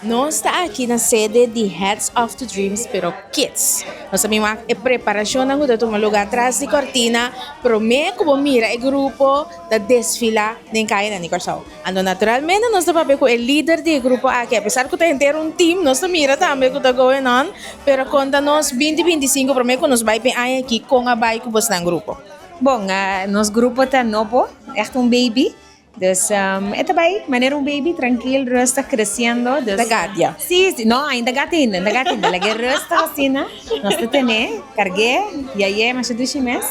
Nos ta aki na sede di Hats Off to Dreams pero Kids. Nos a bin wak e preparashonnan ku ta tuma lugá tras di kòrtina promé ku bo mira e grupo ta desfilá den kayanan di Kòrsou. Anto naturalmente nos ta papia ku e lider di e grupo aki, apesar ku ta henter un tim, nos ta mira tambe ku ta going on, pero konta nos binti binti i sinku promé ku nos bai p'e aña aki kon a bai ku bo snan grupo. Bon, nos grupo ta nobo, ègt un baby, Dus e ta bai manera un baby, trankil, rustig, kresiendo. E ta gatia? Sí, sí. No, ainda gati hinda, ainda gati hinda. Lag'é rustig asina. Nos ta tene, karg'é, yay'é masha dushi mes.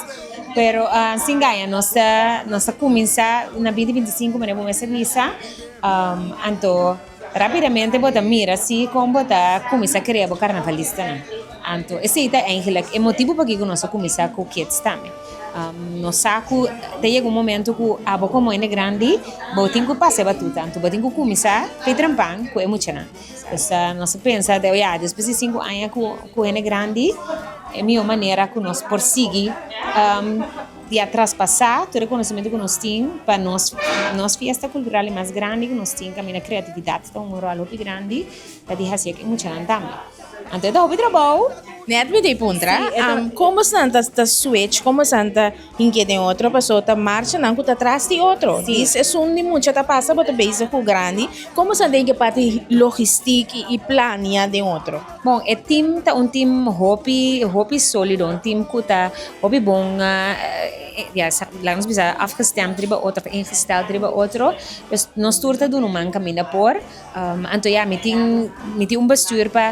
Pero sin gaña nos ta, nos ta kuminsá na binti binti sinku manera bo mester bisa. Anto. Rapidamente bo ta mira si kon bo ta kuminsá krea bo karnavalistanan. Anto esei ta eigenlijk e motibu pakiko nos a kuminsá ku Kids tambe. Nos sa ku ta yega un momentu ku abo komo hende grandi bo tin ku pase batuta, anto bo tin ku kuminsá pei trempan ku e muchanan. Pues nos a pensa te oia despues di sinku aña ku hende grandi e mihó manera ku nos por sigui. Di a traspasá tur e konosementu ku nos tin pa nos nos fiesta kultural e mas grandi ku nos tin kaminda kreatividat ta un ròl hopi grandi ta di hasi e ke muchanan tambe anto e ta hopi trabou. Nèt mi ta puntra kon bosanan ta switch kon bosanan ta hink'é den otro paso ta marcha nan ku ta tras di otro di sesun di mucha ta pasa bo ta bezi ku grandi kon bosanan ta hik'é parti logistik i plania den otro. Bon e team ta un team hopi hopi solido un team ku ta hopi bon ya laat ons bisa afgestemd riba otro of ingesteld riba otro pues nos tur ta duna un man kaminda por anto ya mi tin mi tin un bestuur pa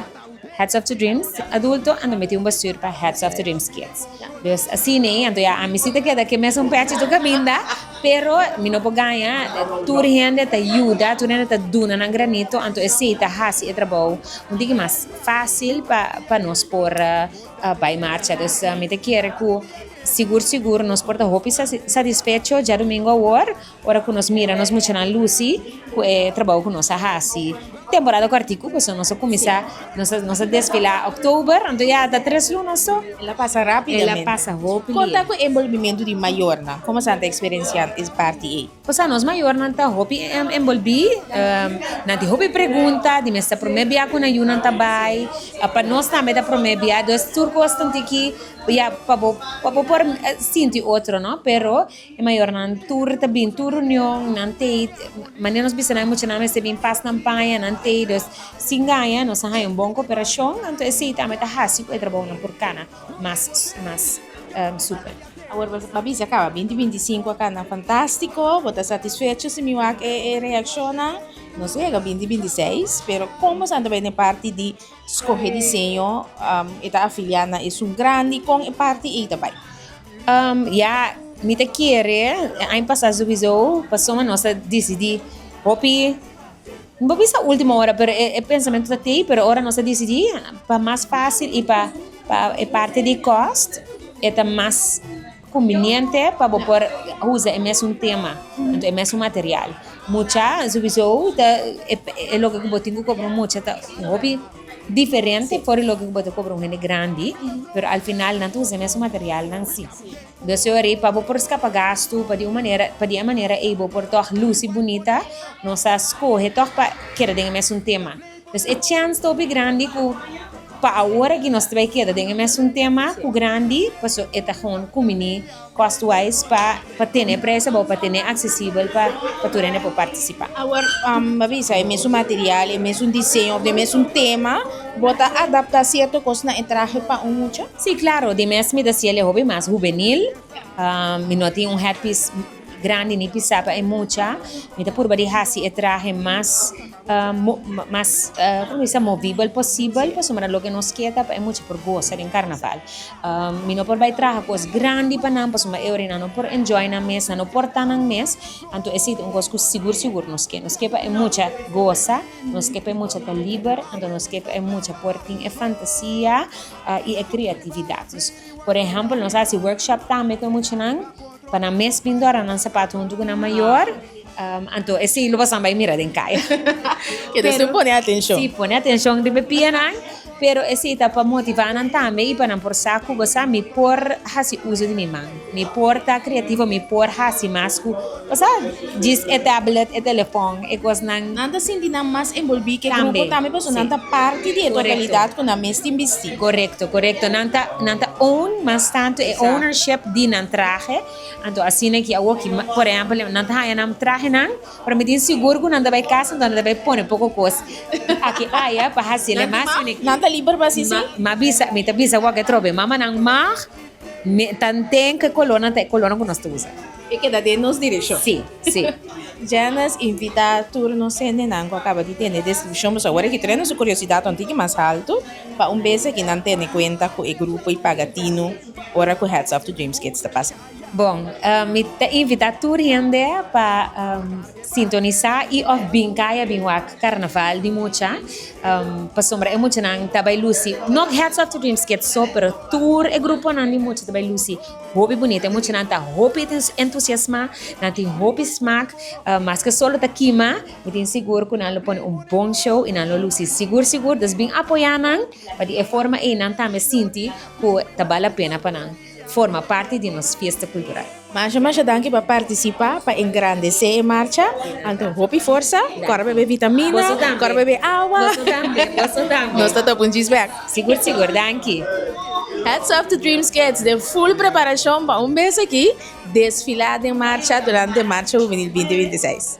heads of the dreams adulto anto mi tin un bestuur pa heads of the dreams kids dus asina anto ya ami si ta keda ke mesun pechi tur kaminda. Pero mi no por gaña, tur hende ta yuda, tur hende ta duna nan granito, anto esei ta hasi e trabou un tiki mas fásil pa pa nos por bai marcha. Dus mi ta kere ku sigur sigur nos por ta hopi satisfecho djadumingu awor, ora ku nos mira nos muchanan lusi ku e trabou ku nos a hasi. Temporada kuartiku pasobra nos a kuminsá nos a desfilá October anto ya ta tres lunas so el a pasa rápidamente. El a pasa hopi lindo. Kon ta ku enbolbimentu di mayornan? Kon asina ta eksperensiá e parti ei? Osea nos mayornan ta hopi enbolbí, nan tin hopi pregunta di mester promé bia ku nan yu nan ta bai, pa nos tambe ta promé bia, entonces tur kos ta un tiki ya pa bo pa bo por sinti otro no pero E mayornan tur ta bin tur reunion nan tei manera nos bisa nan e muchanan mester bin pas nan paña nan tei dus sin gaña nos a haña un bon cooperacion anto esei ta mi ta haci cu e trabounan por cana mas mas super. Awor bo a bisa caba binti binti y cinco a cana fantastico bo ta satisfecho si mi wak e reaccionnan nos yega binti binti y seis pero con boso a tabaya den parti di Skohe diseño, e ta afiliá na esun grandi, kon e parti ei ta bai? Ya, mi ta kere, e aña pasá souizo, pasobra nos a disidí hopi, no por bisa último ora, pero e pensamentu ta t'ei, pero ora nos a disidí pa mas fásil i pa e parti di kòst e ta mas. Kumbiniente pa bo por usa e mesun tema nto e mesun material. Mucha, subiso ta e loke ku bo tin ku kobra un mucha ta un hopi diferente for di loke ku bo ta kobra un hende grandi, pero al final nan ta usa e mesun materialnan si. Entonces yori pa bo por skapa gastu pa di un manera pa di e manera ei bo por tòg lusi bunita nos a skohe tòg pa keda den e mesun tema. Pues e chèns ta hopi grandi ku pa awor aki nos ta bai keda den e mesun tema ku grandi paso e ta hon kuminí cost wise pa pa tene e preso abou pa tene aksesibel pa pa tur hende por partisipá. Awor bo a bisa e mesun material e mesun diseño òf den e mesun tema bo ta adaptá sierto kos na e trahe pa un mucha? Sí, klaro, di mes mi ta siel e hopi mas hubenil mi no tin un hètpis. Grandi mi pisa pa e mucha mi ta purba di hasi e trahe mas mas como mi bisa movible posibel pasobra nan loke nos ke ta pa e mucha por gosa den carnaval mi no por bai traha cos grandi pa nan pasobra e ora nan no por enjoy nan mes nan no por ta nan mes anto esa ta un cos cu sigur sigur nos ke nos ke pa e mucha gosa nos ke pa e mucha ta liber anto nos ke pa e mucha por tin e fantasia y e creatividad por ejemplo nos hasi workshop tambe cu e muchanan Pa nan mes bin dora nan sapat huntu ku nan mayor, anto ese lo pasaban bai mira den kaya. Ke ta su pone atencion. Si, pone atencion riba e pianan, pero ese ta pa motiva nan tambe i pa nan por sa ku bo sa mi por hasi uso di mi man, mi por ta creativo, mi por hasi mas ku, bo sa, djis e tablet, e telefon, e kosnan. Nan ta sinti nan mas enbolbi ke grupo tambe pasobra nan ta parti di e totalidad ku nan mes tin bisti. Korekto, korekto. Nan ta, nan ta own mas tantu e ownership di nan trahe. Anto asina e ki awor ki, por ehempel, nan ta haña nan trahenan, pero mi tin sigur ku nan ta bai kasa, anto nan ta bai pone poko kos aki aya pa hasi el e mas fini. Nan ta liber pa hasi si? Ma bisa, mi ta bisa wak e trobe. Mamanan mag tanten ku e kolornan ta e kolornan ku nos ta usa. E keda den nos direkshon. Sí, sí. Janice invitá tur nos hendenan ku a kaba di tene destrushon, boso awor a hitr'e su kuriosidad un tiki mas haltu pa un bes aki nan tene kuenta ku e grupo i paga tinu ora ku Hats Off to Dreams Kids ta pasa. Bon, mi ta invitá tur hende pa sintonisá i òf bin kay a bin wak Karnaval di Mucha, pasobra e muchanan ta bai lusi, nò Hats Off to Dreams Kids so, pero tur e gruponan di mucha ta bai lusi. Hopi bunita e mucha nan ta hopi entusiasma nan tin hopi smak maske sol lo ta kima mi tin sigur ku nan lo pone un bon show i nan lo lusi sigur sigur dus bin apoya nan pa di e forma ei nan tambe sinti ku ta bal la pena pa nan forma parti di nos fiesta kultural. Masha masha danki pa partisipa pa engrandesé e marcha anto hopi forsa kòrp bebe vitamina kòrp bebe awa nos ta ta punchi spek. Sigur sigur, danki. Hats off to Dreams Kids den full preparashon pa un bes aki desfilá den marcha durante Marcha Huvenil binti binti seis.